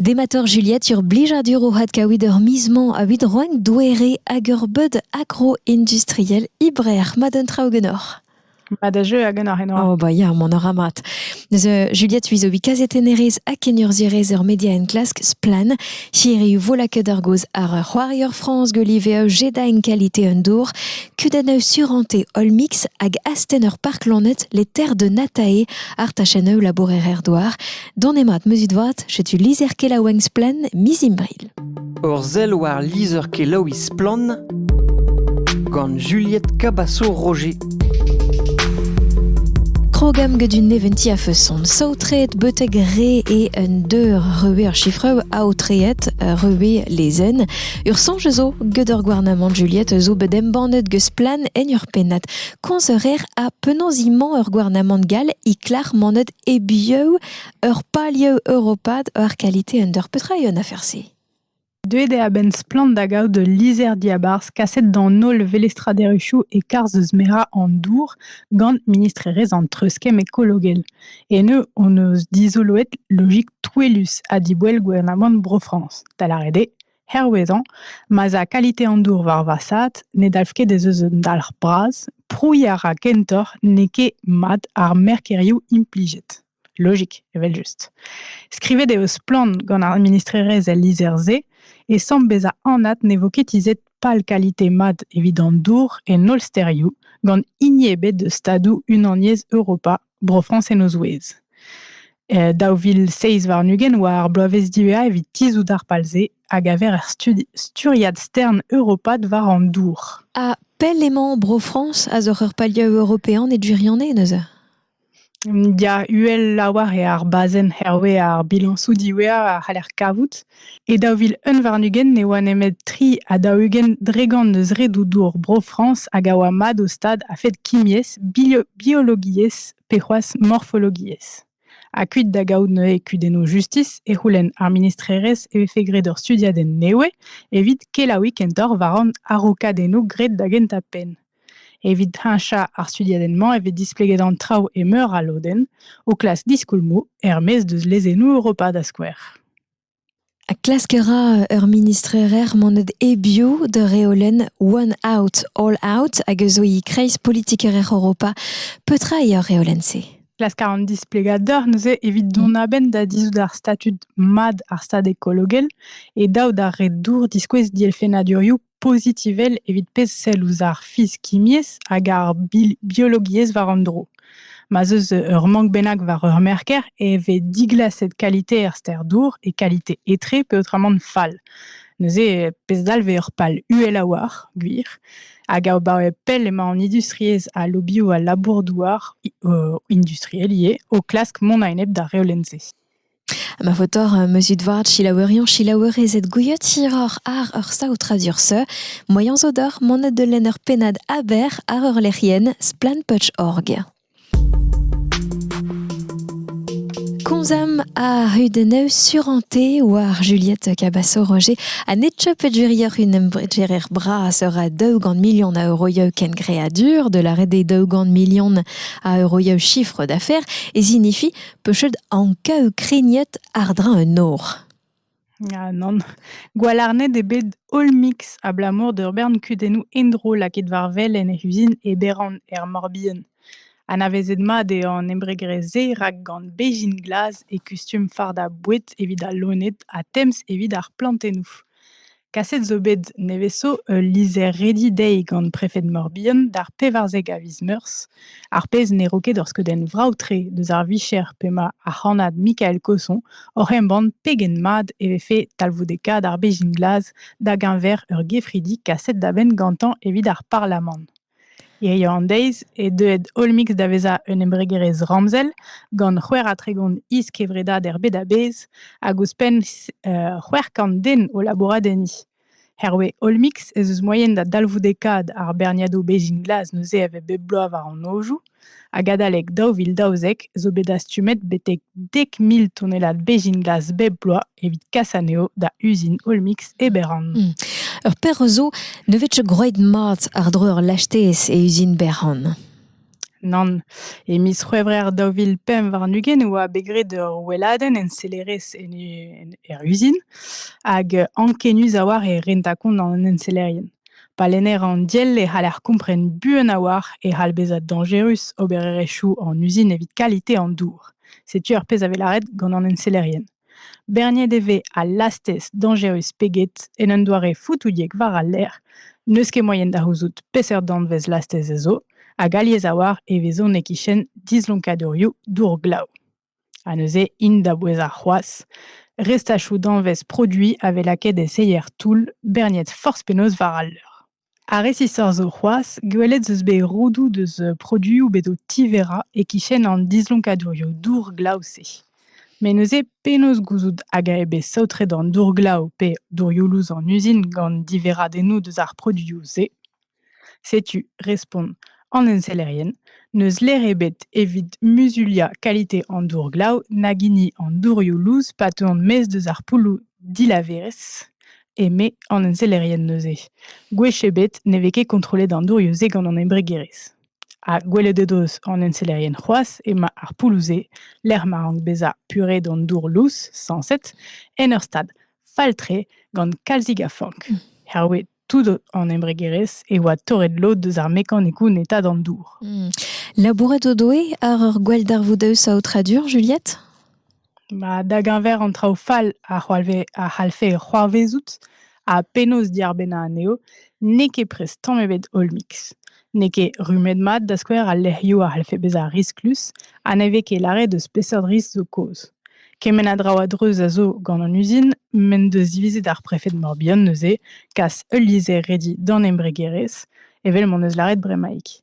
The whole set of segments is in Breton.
Dematoc'h Juliette sur blijadur o had kaout ur miz-mañ a-vid roenn doere hag ur beud agro-industriel ibreac'h ma d'un traoù genoc'h. Ma da jeu a genoc'h eno. Oh ba ya, mon ora mat. Neus Juliette uizo bikaz e tenerez ha kennurzhierez ur media enklask splan. Hiriv vola ket ar goz ar c'hoarier France Golive e jeda en qualité un dour. Kudenn surante All Mix hag asten ur park lanet les terres de Natae ar tachenn e labourer er doar. Don mat meuzit vat, setu lizher-kelaouenn Splen miz Imbril. Ur sell war lizher-kelaouiñ Splan gant Juliette Cabasso-Roger. Krogam gant un neventi a feuson. Saotreet betek re e un deur reue ar chiffre aotreet reue lezen. Ur sonj zo gant ur gouarnamant Juliette zo bet embannet gant Splan en ur pennat. Konzeurer a penaos imañ ur gouarnamant gal i klar manet E-biou ur palioù europat war kalite un dor petra eo an afer-se? Deuet eo a-benn Splann da gaout ul lizher-diabarzh kaset d'an holl velestraderezhioù e-karzh eus merañ an dour gant ministrerezh an treuzkemm ekologel. Eno hon eus dizoloet logik touellus ha diboell gouarnamant Bro-Frañs, da lâret eo Hervezañ, ma'z a kalite an dour war vasaat ne dalv ket ez eus un dalc'h bras, prouiñ a ra kentoc'h n'eo ket mat ar merkerioù implijet. Logik, evel-just. Skrivet eo splann gant ar ministrerezh el lizher-se e samm bezañ anat ne vo ket tizhet pal kalite mat evit an dour en holl stêrioù, gant hini ebet eus stadoù Unaniezh Europa Bro-Frañs en o zouez. E daou vil seizh warn-ugent oa ar bloavezh diwezhañ evit tizhout ar pal-se a gaver er studi sturiad stern europat war an dour. Ha pell emañ Bro-Frañs a zoc'h ur palioù european e gwirionez neuze? Ya, uhel lavar eo ar bazenn hervez ar bilañsoù diwezhañ a c'haller kavout. E daou vil unn warn-ugent ne oa nemet tri ha daou-ugent dregont eus redoù dour Bro-Frañs hag a oa mat o stad a-fet kimiezh, biologiezh pe c'hoazh morfologiezh. Ha kuit da gaout neuze kudennoù justis e c'houlenn ar ministrerezh e vefe graet ur studiadenn nevez evit kelaouiñ kentoc'h war an araokadennoù graet da gentañ penn. Evit heñchañ ar studiadenn-mañ e vez displeget an traoù e meur a lodenn, o klask diskoulmoù er-maez deus lezennoù Europa da skouer. Ha klask a ra ur ministrerezh monet hebiou d'ur reolenn One Out, All Out hag a zo e kreiz politikerezh Europa. Petra eo ar reolenn-se? Klask a ran displegadur neuze evit dont a-benn da dizhout ar statud mat ar stad ekologel e daou da re dour diskouez dielfennadurioù pozitivel evit pezh sell ouzh ar fizikiezh hag ar biologiezh war un dro. Ma 'z eus ur mank bennak war ur merker e vez diglaset kalite er ster dour e kalite etre peotramant fall. Neuze, pezh dalv eo ur pal uhel a-walc'h, gwir. Hag abaoe pell emañ an industriezh ha lobioù al labour-douar, industriel ivez, o klask mont a-enep d'ar reolenn-se. Ma vo torr meuzut vat selaouerion selaouerezed gouiet hiroc'h àr ur saotradur seu moaien zo deoc'h monet da lenn ur pennad Aber àr ur lec'hienn Splanputch.org. Komzamp a hudennoù suranté war Juliette Cabasso-Roger ha netcha pedjurier unem bredjerer bras ura daougan million a euroioù kengreadur de la red des daougan million a euroioù chiffre d'affaires e zinifi pechet anka Ukrainiet àr-dreñv un nor. Ya, nann. Gwalarned eo bet holl mix abalamour d'ur bern kudennoù endro lakaet war wel en he uzin e Beran er Morbihan. Anavezet mat eo an embregrezh-se rak gant bezhin glas e kustum fardañ boued evit al loened ha temz evit ar plantennoù. Kaset zo bet nevez-zo ul lizher-redi dezhi gant prefed Mor-Bihan d'ar pevarzek a viz Meurzh, ar pezh ne ro ket ur skeudenn vrav-tre deus ar vicher p'emañ ar c'hannad Mikael Cosson oc'h embann pegen mat e vefe talvoudekaat ar bezhin glas da geñver ur gefridi kaset da benn gantañ evit ar parlamant. Hiziv an deiz eo deuet Olmix da vezañ un embregerezh ramzel gant c'hwec'h ha tregont is-kevredad er bed a-bezh hag ouzhpenn c'hwec'h kant den o labourat enni. Hervez Olmix ez eus moaien da dalvoudekaat ar berniadoù bezhin glas neuze a vez bep bloaz war an nojoù. Hag adalek daou vil daouzek zo bet dastumet betek dek mil tonnellad bezhin glas bep bloaz evit kas anezho da uzin Olmix e Beran. Hmm. Ur perzh zo ne vefe groet mat àr-dro ur lastez e uzin Beran. Nann. E miz C'hwevrer daou vil pemp warn-ugent e oa bet graet ur weladenn ensellerezh en, en, er uzin hag ankenius a-walc'h e renta kont an ensellerien. Pa lenner an diell e c'haller kompren buan a-walc'h e c'hall bezañ dañjerus obererezhioù an uzin evit kalite an dour. Setu ar pezh a vez lâret gant an ensellerien. Berniet e vez al lastez dañjerus pe get en un doare fotouliek war al lec'h. N'eus ket moaien da c'houzout peseurt danvez lastez ez zo, hag alies a-walc'h e vezont e-kichen dislonkadurioù dour glav. Ha neuze int da bouezañ c'hoazh. Restachoù danvez produiñ a vez lakaet e seier-toull berniet forzh penaos war al leur. Ha resisoc'h zo c'hoazh, gwelet 'z eus bet roudoù deus produioù bet o tiverañ e-kichen an dislonkadurioù dour-glav-se. Met neuze penaos gouzout hag eo bet saotret an dour-glav pe dourioù-lous an uzin gant diverradennoù deus ar produioù-se? Setu, respont an ensellerien, n'eus ler ebet evit muzuliañ kalite an dour-glav nag hini an dourioù lous pa teuont maez deus ar poulloù dilaverezh, eme an ensellerien neuze. Gwech ebet ne vez ket kontrollet an dourioù-se gant an embregerezh. Ha gwelet o deus an ensellerien c'hoazh emañ ar poulloù-se, lec'h ma rank bezañ puret an dour lous, sañset, en ur stad fall-tre gant kalzik a fank. Herwez Tout an embregerezh e oa torret lod deus ar mekanikoù neta d'an dour. Hmm. Labourat o doe àr ur gwalldarvoudaus aotradur, Juliette ba, Da geñver an traoù fall a c'hoalve- a c'hallfe c'hoarvezout ha penaos diarbennañ anezho, n'eo ket prest tamm ebet holl mix. n'eo ket rummet-mat, da skouer, al lec'hioù a c'hallfe bezañ risklus ha ne vez ket lâret eus peseurt risk zo kaoz. Kement a draoù a-dreuz a zo gant an uzin m'en deus divizet ar prefed Morbihan neuze kas ul lizher redi d'an embregerezh, evel m'en deus lâret bremaik.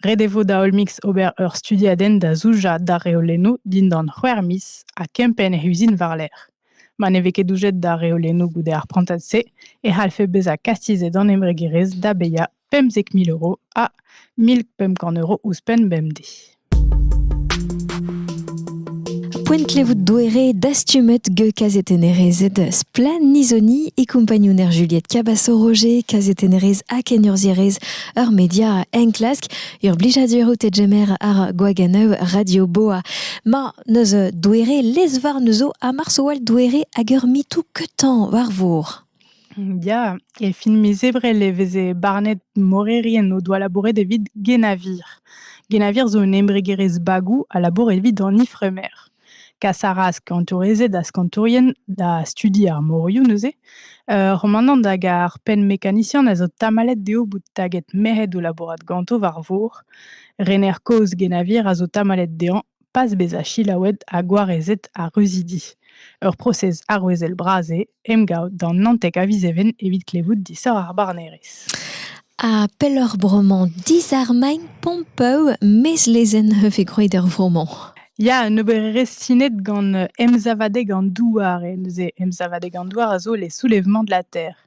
Ret e vo da Olmix ober ur studiadenn da zoujañ d'ar reolennoù dindan c'hwec'h miz ha kempenn he uzin war-lerc'h. Ma ne vez ket doujet d'ar reolennoù goude ar prantad-se e c'hallfe bezañ kastizet an embregerezh da bezañ Pemzek mil euro ha mil pemp kant euro ouzhpenn bemdez. Poent klevout doere dastumet ge kazetennerezed Splen Nizoni e kompagnouner Juliette Cabasso-Roger, kazetennerez ha kenurzierez ur media enklask, ur blijadur out e jemer ar Gwaganeu Radio Boa. Ma neus doere lezvar neuzo ha marsoal doere hag ur mitou ketan war vor. Ya, e fin miz Ebrel e veze barnet morerien o doa labouret evit Guénavir. Guénavir zo un embregerezh bagoù a labour evit an ifremer. Kas a ra skañtourezed ha skañtourien da studi ar morioù neuze. Ur c'homanant hag ar penn-mekanisian a zo tamallet dezho bout taget merc'hed o labourat ganto war vor. Rener kozh Guénavir a zo tamallet dezhañ. pas bezañ selaouet ha gwarezet ar reuzidi. Ur prosez arouezel bras eo emgav d'an Naontek a viz Even evit klevout disoc'h ar barnerezh. Ha pelloc'h bremañ disarmagn Pompeu, mez lezenn e vez gwraet er vro-mañ. Ya, un obererezh sinet gant emsavadeg an douar. E neuze emsavadeg an douar a zo les soulèvements de la terre.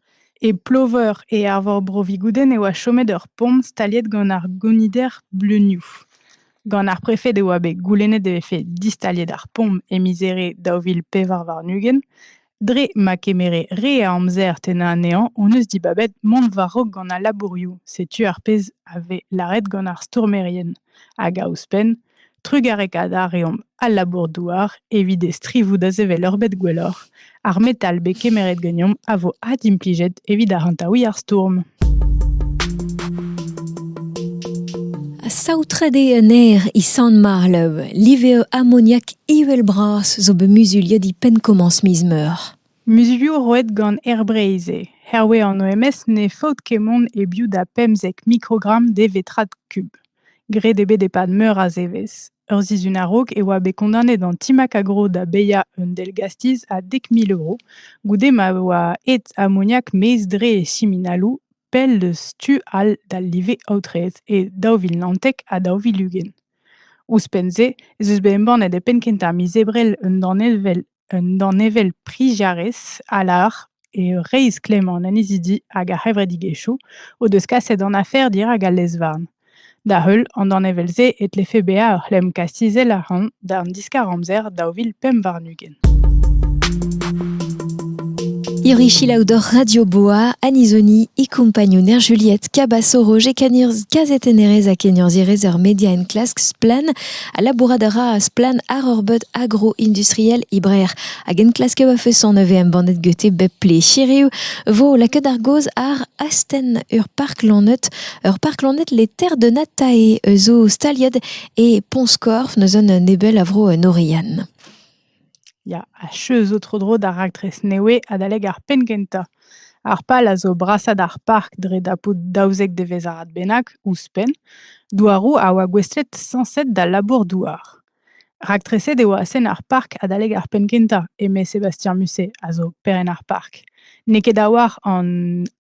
E Ploveur e Arvor Bro-Vigoudenn e oa chomet ur pomp staliet gant ar gonider bleunioù. Gant ar prefed e oa bet goulennet e vefe distaliet ar pomp e miz Here daou vil pevar warn-ugent. Dre ma kemere re a amzer tennañ anezhañ hon eus dibabet mont war-raok gant al labourioù. Setu ar pezh a vez lâret gant ar stourmerien. Hag a ouzhpenn, trugarekaat a reomp al labour-douar evit e strivoù da sevel ur bed gwelloc'h. Ar metal bet kemeret ganeomp a vo adimplijet evit arc'hantaouiñ ar stourm. Saotret eo un aer e Sant-Marlev. Live eo amoniak ivel-bras zo bet muzuliet e penn-komañs miz meur. Muzulioù roet gant Air Breizh eo. Hervez an OMS ne faot ket mont e-biou da pemzek mikrogramm de vetrad kub. Graet eo bet e-pad meur a zevezh. Ur sizhun a-raok e oa bet kondaonet an Team Acagro da baeañ un dell-gastiz a dek mil euro goude ma oa aet amoniak maez-dre e siminaloù pell deus tu all d'al live aotreet e daou vil naontek ha daou vil ugent. Ouzhpenn-se ez eus bet embannet e penn-kentañ miz Ebrel un danevell Un danevell priziadez a lâr eo reizh klemmañ an annezidi hag ar c'hevredigezhioù o deus kaset an afer dirak al lez-varn. Da-heul an danevell-se e tlefe bezañ ur c'hlemm kastizel a-ran d'an diskar-amzer daou vil pemp warn-ugent. Irichilaou d'hor Radio Boa, Anizoni e compagnouner Juliette Cabasso-Roger Canirz, kazetennerez ha keniorzhierez er media enklask Splan Ha labourat a ra splann àr ur beud agro-industriel e Breac'h hag enklasker va feson a vez embannet gete bep ple. Hiriv 'vo lakaet ar gaoz àr astenn ur park lanet, ur park lanet Les Terres de Natae zo staliet e Pont-Skorf, neuze un nebel a vro en Oriane. Ya, achu zo tro-dro d'ar raktres nevez adalek ar penn-kentañ. Ar pal a zo brasañ d'ar park dre dapout daouzek devezh-arad bennak, ouzhpenn, douaroù a oa gouestlet sañset d'al labour-douar. Raktreset eo astenn ar park adalek ar penn-kentañ, eme Sébastien Musset, a zo perenn ar park. N'eo ket a-walc'h an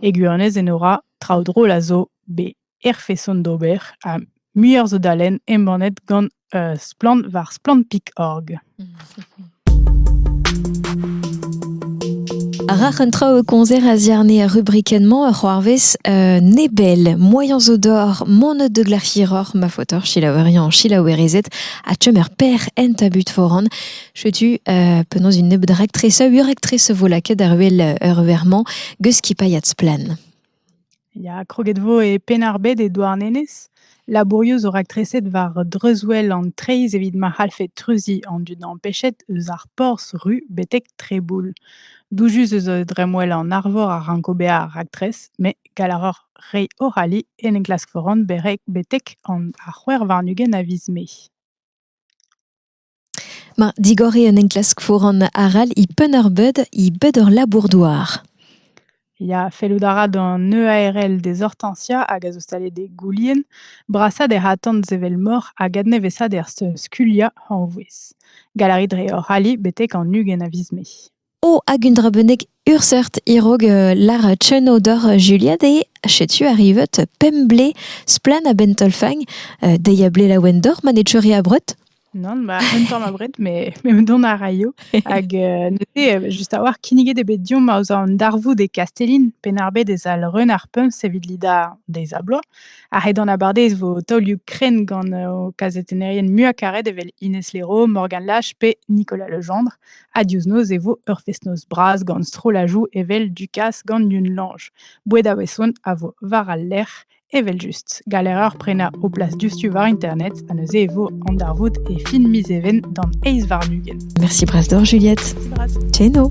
E gwirionez Enora, traoù drol a zo bet er feson d'ober ha muioc'h zo da lenn embannet gant Splann war splann.org. Rac'h un traoù e konzer a ziarne ar rubrikenn-mañ a c'hoarvez euh, nebel, moyens zo d'or, moned de glac'hiroc'h, ma faotoc'h chilaoueriañ selaouerezed ha chom er per en tabut foran. Setu euh, penaos un nebeud raktres, ur raktres vo lakaet ar wel ur vermañ geus skipailhat splan. Ya, kroget vo e Penarbed e Douarnenez. Labourioù zo raktreset war dreuzwel an treizh evit ma c'hallfe treuziñ an dud empechet eus ar porzh ru betek Treboul. Doujus eus dremmwel an Arvor a ranko bezañ ar raktres, met gall a roc'h reiñ o c'halli en enklask foran betek an ar c'hwec'h warn-ugent a viz Mae. Ma, digor eo un enklask foran arall e Penn-ar-Beud, e bed hor labour-douar. Ya, fellout a ra d'an EARL dezhortañsiañ hag a zo staliet e Goulien brasaat er atant sevel-mor hag adnevesaat er skuliañ hañvouez. Galari dre hor ali betek an ugent a viz Mae. Oh, hag un dra bennak ur seurt e-raok lar Tcheno doc'h Juliad eo setu arrivet pemp blez splann a-benn taol-fagn. dezhi a ble laouen doc'h ma ne teuri abred. Nann, ba un tamm abred, mais me dont a raio. Hag neuze, just a-walc'h, kinniget eo bet diomp aoz an darvoud e Kastellin, Penn-ar-Bed ez al reun ar pumps evit lidañ deiz ha bloaz. Ha ret an abardez vo taolioù krenn gant ho kazetennerien muiañ karet evel Ines Leroux, Morgan Lache pe Nicolas Legendre. Ha diouzh noz e vo ur fest-noz bras gant strollajoù evel Dukas gant Yun-Lange. Boued a-weson a vo war al lec'h evel-just. Galer ur prenañ o plas diouzhtu war internet ha neuze e vo an darvoud e fin miz Even d'an eizh warn-ugent. Merci Bras d'or, Juliette. Merci Bras. Teno.